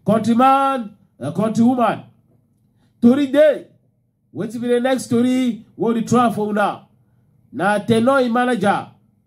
countryman uh, countrywoman tori dey wetin be the next story wey we dey try for una na tenor im manager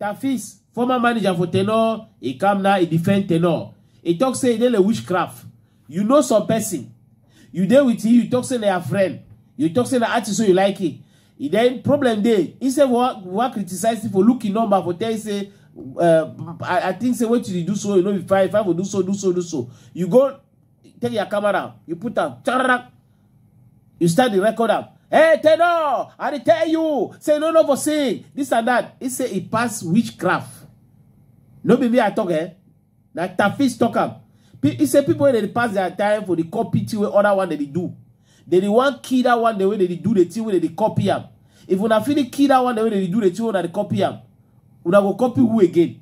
Tafis, former manager for Tenor, he come now, he defend Tenor. He talk say he dey like witchcraft. You know some person. You dey with him, you talk say na your friend. You talk say na artist so you like it. He then problem dey. Instead of what, what criticize him for looking number for tell you say uh, I, I think say what you dey do so, you know if I if I for do so, do so, do so. You go take your camera, you put am, You start the record up. Hey, Tenor, I tell you, say no, no for sing, this and that. He say he pass witchcraft. No be me I talk, eh? Na Tafis talk am. Pe- He say people wey dey pass their time for the copy thing wey other one dey dey do. They dey wan kill that one the way they dey do the thing wey they dey copy am. If una fit kill that one the way they dey do the thing wey una dey copy am, una go copy who again?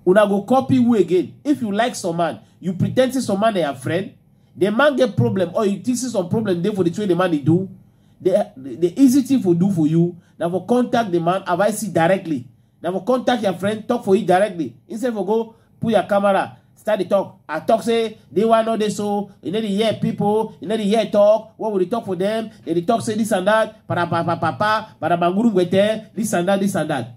Una go copy who again? If you like some man, you pretend say some man they are friend. The man get problem or you think say some problem there for the way the man they do. The, the, the easy thing for do for you, now for contact the man, advise it directly. Now for contact your friend, talk for it directly. Instead for go put your camera, start the talk. I talk say they want know this so you know the hear people, you know the hear talk. What will they talk for them? They, they talk say this and that, para pa pa pa pa, para banguru ngwete, this and that, this and that.